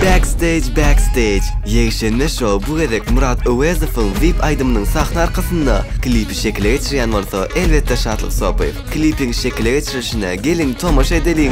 Backstage Backstage Ýekşenbe şou bu gezek Murat Öwezowyň Weep aýdymynyň sahna arkasynda klipi şekile geçirýän bolsa elbetde Şatlyk Sopyýew. Klipiň şekile geçirilişine geliň tomaşa edeliň.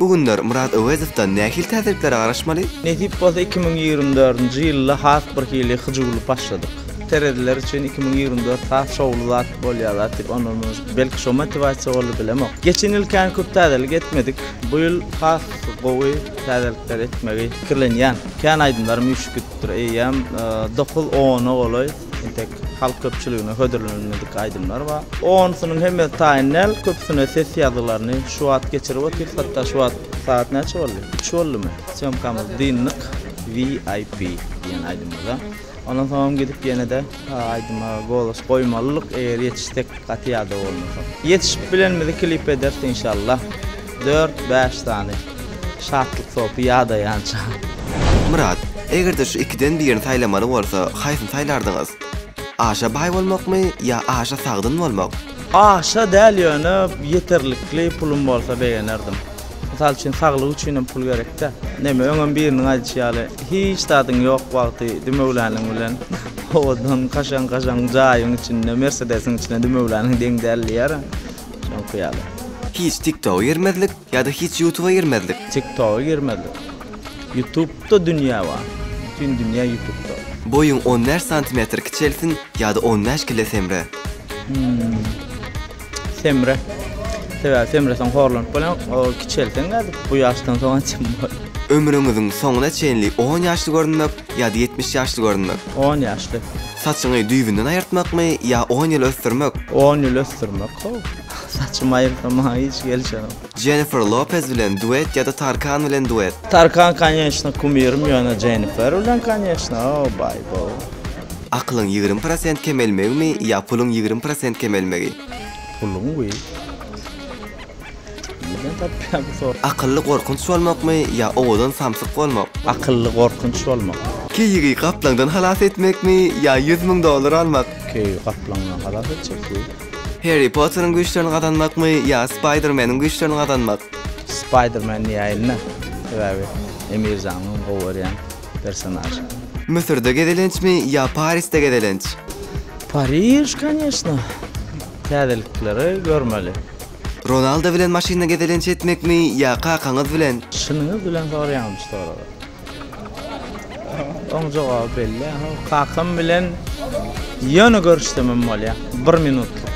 Bu günler Myrat Öwezowdan nähili täzeliklere garaşmaly? Nesip bolsa iki müň ýigrimi dördünji ýylda has bir hili hyjuwly başladyk. Terezler üçin iki müň ýigrimi dört has şowly zat bolýar zat diýip onurmyz. Belki şo motiwasiýa boldy bilemok. Geçen ýyl kän köp täzelik etmedik. Bu ýyl has gowy täzelikler etmegi pikirlenýän. Kän aýdymlarym üýşüp gidipdir eýýäm dokuz ona golaý. Entek halk köpçüligine hödürlenilmedik aýdymlar bar. Onsunyň hemmesi taýyn däl, köpüsine ses ýazgylaryny şu wagt geçirip otyrys, hatda şu wagt sagat näçe boldy? Üç boldumy? Sýomkamyzy dyndyk VIP diýen aýdymymyza. Ondan soňam gidip ýene-de aýdyma golos goýmalydyk, eger ýetişsek gaty ýadaw bolmasa. Ýetişip bilenimizi klip ederis inşallah. Dört-bäş sany şatlyk sopy ýadaýança. Myrat, eger-de şu ikiden birini saýlamaly bolsa, haýsyny saýlardyňyz? Aşa baý bolmakmy ýa aşa sagdyn bolmak? Aşa däl ýöne ýeterlikli pulum bolsa begenerdim. Mysal üçin saglyk üçinem pul gerekdä. Näme öňem biriniň aýdyşy ýaly hiç zadyň ýok wagty dümewläniň bilen owadan kaşaň-kaşaň jaýyň içinde mersedesiň içine dümewläniň deň däl diýýär. Soňky ýaly. Hiç tiktoga girmezlik ýada hiç ýutuba girmezlik. Tiktoga girmezlik. Ýutubda dünýä bar. Bütin dünýä ýutubda. Boýuň on bäş santimetr kiçelsin ýada on bäş kile semre. Hmmm. Semre. Sebäbi semreseň horlanyp bolýaň. Ol kiçelseň nädip bu ýaşdan soň ençem bol. Ömrüňiziň soňuna çenli on ýaşly görünmek ýada ýetmiş ýaşly görünmek. On ýaşly. Saçyňy düýbünden aýyrtmakmy ýa on ýyl ösdürmek? On ýyl ösdürmek how. Saçymy aýyrsam maňa hiç gelişenok. Jennifer Lopez bilen duet ýa-da Tarkan bilen duet? Tarkan konýeçno kumirim ýöne Jennifer bilen konýeçno how baý baw. Akylyň ýigrimi prosent kemelmegimi ýa puluň ýigrimi prosent kemelmegi? Puluň we. Nirden tapýar bu sor. Akylly gorkunç bolmakmy ýa owadan samsyk bolmak. Akylly gorkunç bolmak. Keýigi gaplaňdan halas etmekmi ýa ýüz müň dollar almak. Keýigi gaplaňdan halas etjek bu. Harry Potteriň güýçlerini gazanmakmy ýa Spider Meniň güýçlerini gazanmak. Spider Man diýäýinda sebäbi Emir janyň gowy görýän personažy. Müsürde gezelençmi ýa Parisde gezelenç. Pariž kaneşna. Täzelikleri görmeli. Ronaldo bilen maşynda gezelenç etmekmi ýa kakaňyz bilen? Çynyňyz bilen soraýaňyz şu soragy. Oň jogaby belli. Kakam bilen ýöne görüşsemem bolýa. Bir minutlyk.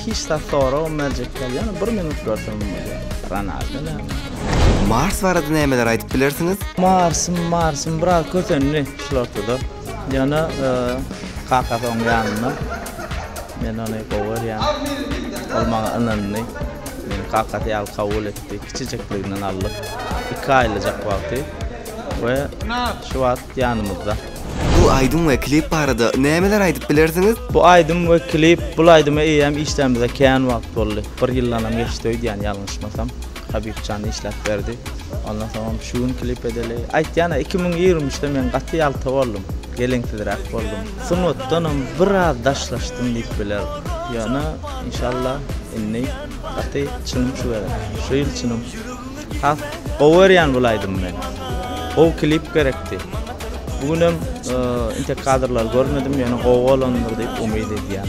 Hiç zat soragam berjek däl. Ýöne bir minut görsemem bolýa. Ronaldo näme? Mars barada nämeler aýdyp bilersiňiz? Marsym, Marsym biraz kösendi şulartda-da. Ýöne kakasy oň ýanynda. Men ony gowy görýän. Ol maňa ynandy. Meni kakasy ýaly kabul etdi. Kiçijikliginden aldyk. Iki aýlyjak wagty we şu wagt ýanymyzda. Bu aýdym we klip barada nämeler aýdyp bilersiňiz? Bu aýdym we klip, bul aýdymy eýýäm işlänimize kän wagt boldy. Bir ýyldanam geçdi öýdýän ýalňyşmasam. Habibjan işläp berdi. Ondan soňam şu gün klip edeli. Aýtýan-a, iki müň ýigrimi üçde men gaty ýalta boldum, geleňsizräk boldum. Sungatdanam biraz daşlaşdym diýip bilerin. Ýöne, inşallah, indi gaty çynym şu gezek. Şu ýyl çynym. Has gowy görýän bul aýdymy men. Gowy klip gerekdi. Bu günem intek kadrlary görmedim, ýöne gowy bolandyr diýip umyt edýän.